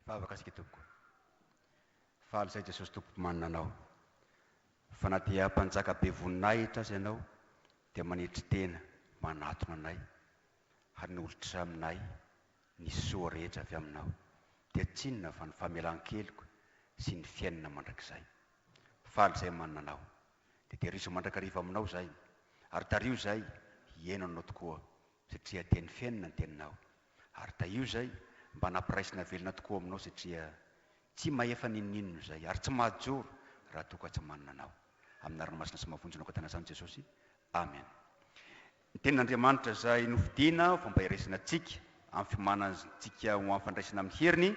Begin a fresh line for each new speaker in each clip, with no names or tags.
Hivavaka isika tompoko. Faly izay Jesosy Tompo Mpimanina anao. Fa na dia Mpanjaka be voninahitra aza ianao dia manetry tena manatona anay hanolotra aminay ny soa rehetra avy aminao dia tsy inona fa ny famelan-keloka sy ny fiainana mandrakizay. Faly izay manana anao. Dia tehirizo mandrakariva aminao izay ary tariho izay hihaino anao tokoa satria teny feno ny teninao ary tahio izay mba nampiraisina velona tokoa ao aminao satria tsy mahefa n'inon'inona izay ary tsy mahajoro raha toa ka tsy manana anao amina ranomasina sy mahavonjy naokatana izany Jesosy Amen Ny tenin'Andriamanitra izay nofidina ho fomba iraisana antsika amin'ny fiomanana antsika ho amin'ny fandraisana amin'ny heriny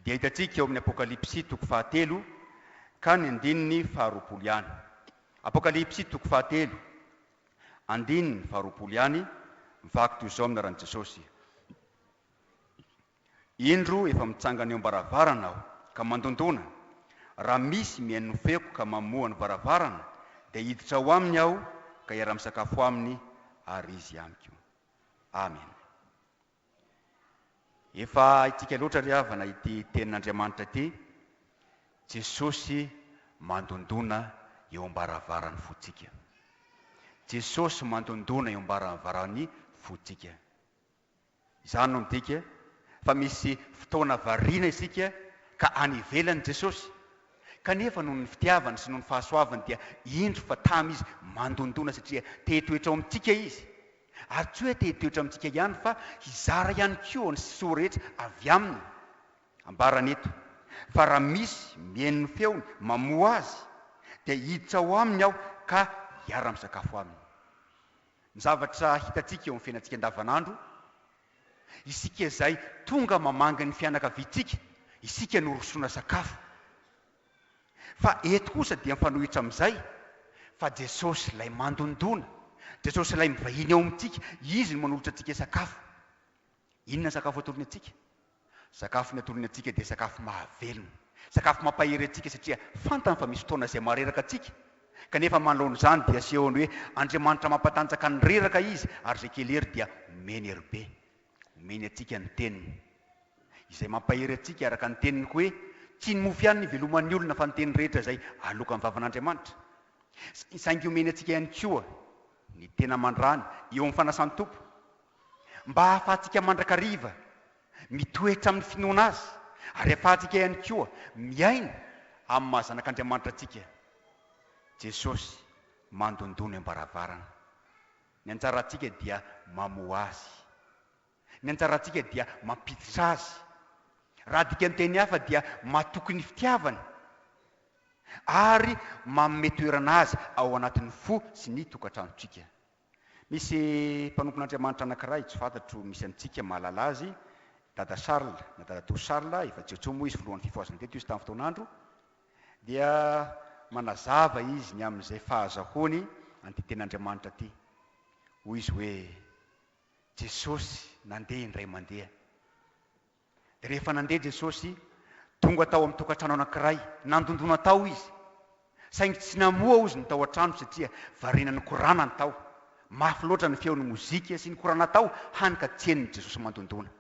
dia hitantsika eo amin'ny Apokalypsy toko fahatelo ka ny andininy faharoapolo ihany Apokalypsy toko fahatelo Andininy faharoapolo ihany, vaky toy izao amin'ny anaran'i Jesosy, Indro efa mitsangana eo am-baravarana aho ka mandondona, raha misy mihaino ny feoko ka mamoha ny varavarana, dia hiditra ao aminy aho ka hiara-misakafo aminy ary izy amiko. Amena. Efa haintsika loatra ry havana ity tenin'Andriamanitra ity, Jesosy mandondona eo am-baravaran'ny fontsika. Jesosy mandondona eo am-baravaran'ny fontsika. Izany no midika fa misy fotoana variana isika ka any ivelany Jesosy, kanefa noho ny fitiavany sy noho ny fahasoavany dia indro fa tamy Izy mandondona satria te-hitoetra ao amintsika Izy Ary tsy hoe te hitoetra amintsika ihany fa hizara ihany koa ny soa rehetra avy Aminy. Ambarany eto, Fa raha misy mihaino ny feony, mamoha azy, dia hiditra ao aminy Aho ka hiara-misakafo aminy. Ny zavatra hitantsika eo amin'ny fiainantsika andavanandro, isika izay tonga mamangy ny fianakaviantsika, isika no rosoana sakafo. Fa eto kosa dia mifanohitra amin'izay fa Jesosy ilay mandondona, Jesosy ilay mivahiny ao amintsika, Izy no manolotra antsika sakafo. Inona ny sakafo atolony antsika? Sakafo ny atolony antsika dia sakafo mahavelona, sakafo mampahery antsika satria fantany fa misy fotoana izay mahareraka antsika, kanefa manoloana izany dia asehony hoe Andriamanitra mampatanjaka ny reraka Izy ary izay kely hery dia omeny hery be. Omeny antsika ny Teniny, izay mampahery antsika araka ny Teniny hoe, Tsy ny mofo ihany no iveloman'ny olona fa ny teny rehetra izay aloakan'ny vavan'Andriamanitra. Saingy omeny antsika ihany koa ny tena mandrany eo amin'ny fanasan-tompo, mba hahafahantsika mandrakariva mitoetra amin'ny finoana Azy, ary hahafahantsika ihany koa miaina amin'ny maha zanak'Andriamanitra antsika. Jesosy mandondò ny ambaravarana. Ny anjarantsika dia mamoha azy. Ny anjarantsika dia mampiditra azy. Raha dikan-teny hafa dia matoky ny fitiavany ary manome toerana azy ao anatin'ny fo sy ny tokantranontsika. Misy mpanompon'Andriamanitra anankiray tsy fantatro misy amintsika mahalala azy, Dada Charles na Dadatoa Charles, efa jiotso moa izy, filohan'ny fifohazana teto izy tamin'ny fotoan'andro. dia manazava izy ny amin'izay fahazahoany an'ity Tenin'Andriamanitra ity. Hoy izy hoe, Jesosy nandeha indray mandeha. Dia rehefa nandeha Jesosy, tonga tao amin'ny tokantrano anankiray. Nandondona tao izy, saingy tsy namoha ozy ny tao an-trano satria variana ny korana ny tao. Mafy loatra ny feon'ny mozika sy ny korana tao, hany ka tsy henon'i Jesosy mandondona.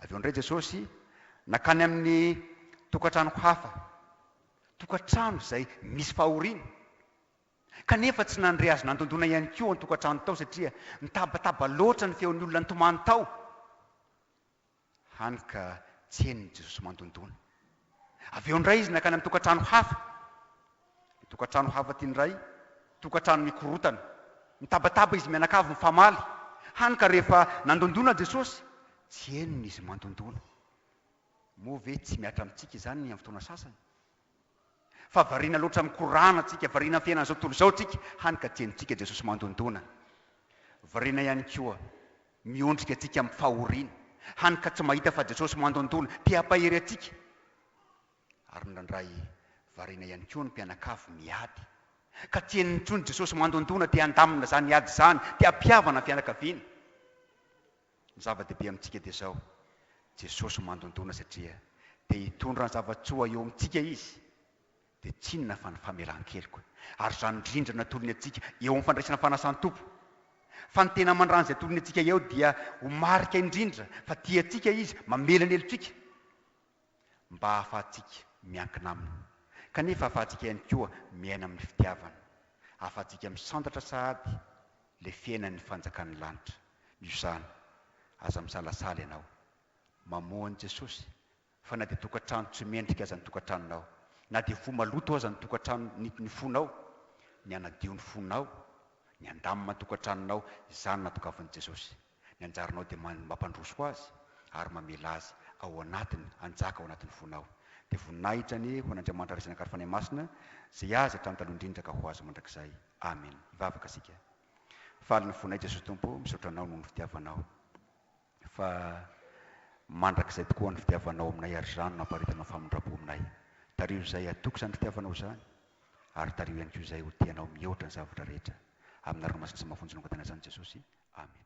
Avy eo indray Jesosy nankany amin'ny tokantrano hafa, tokantrano izay misy fahoriana, kanefa tsy nandre Azy nandondona ihany koa ao an-tokantrano tao satria nitabataba loatra ny feon'ny olona nitomany tao, hany ka tsy henon'i Jesosy mandondona. Avy eo indray izy nankany amin'ny tokantrano hafa. Ilay tokantrano hafa ity indray, tokantrano mikorontana. Nitabataba izy mianakavy mifamaly, hany ka rehefa nandondona Jesosy, tsy henony izy mandondona. Moa ve tsy mihatra amintsika izany ny amin'ny fotoana sasany? Fa variana loatra amin'ny korana isika, variana amin'ny fiainan'izao tontolo izao isika, hany ka tsy henontsika Jesosy mandondona. Variana ihany koa. Miondrika antsika amin'ny fahoriana, hany ka tsy mahita fa Jesosy mandondona, te hampahery antsika. Ary nirandray variana ihany koa ny mpianakavy miady. Ka tsy henony intsony Jesosy mandondona, te handamina izany ady izany, te hampihavana ny fianakaviana. Ny zava-dehibe amintsika dia izao, Jesosy mandondona satria te hitondra ny zava-tsoa eo amintsika Izy. dia tsy inona fa ny famelan-keloka ary izany rindra natolony antsika eo amin'ny fandraisana fanasan'ny Tompo. Fa ny tena aman-drano izay atolony antsika eo dia ho marika indrindra fa tia antsika Izy, mamela ny helotsika mba hahafahantsika miankina Aminy, kanefa hahafahantsika ihany koa miaina amin'ny fitiavana, hahafahantsika misandratra sahady ilay fiainan'ny fanjakan'ny lanitra. Noho izany, aza misalasala ianao mamoha an'i Jesosy Fa na dia tokantrano tsy mendrika aza ny tokantranonao, na dia fo maloto aza ny tokantrano nit ny fonao, ny hanadio ny fonao, ny handamina ny tokantranonao, izany no natogavin'i Jesosy. Ny anjaranao dia man mampandroso azy ary mamela azy ao anatiny hanjaka ao anatin'ny fonao. Dia voninahitra anie ho an'Andriamanitra Ray sy ny Anakary Fanahy Masina, izay azy hatrany taloha indrindra ka ho azy mandrakizay. Amen. Hivavaka isika. Faly ny fonay Jesosy Tompo, misaotra Anao noho ny fitiavanao. Fa mandrakizay tokoa ny fitiavanao aminay ary izany no hamparitana ny famindram-po aminay. Tariho izay hatoky izany fitiavanao izany ary tariho ihany koa izay ho tia anao mihoatra ny zavatra rehetra. Amin'ny anarana masina sy mafonja no angatahinay izany Jesosy. Amena.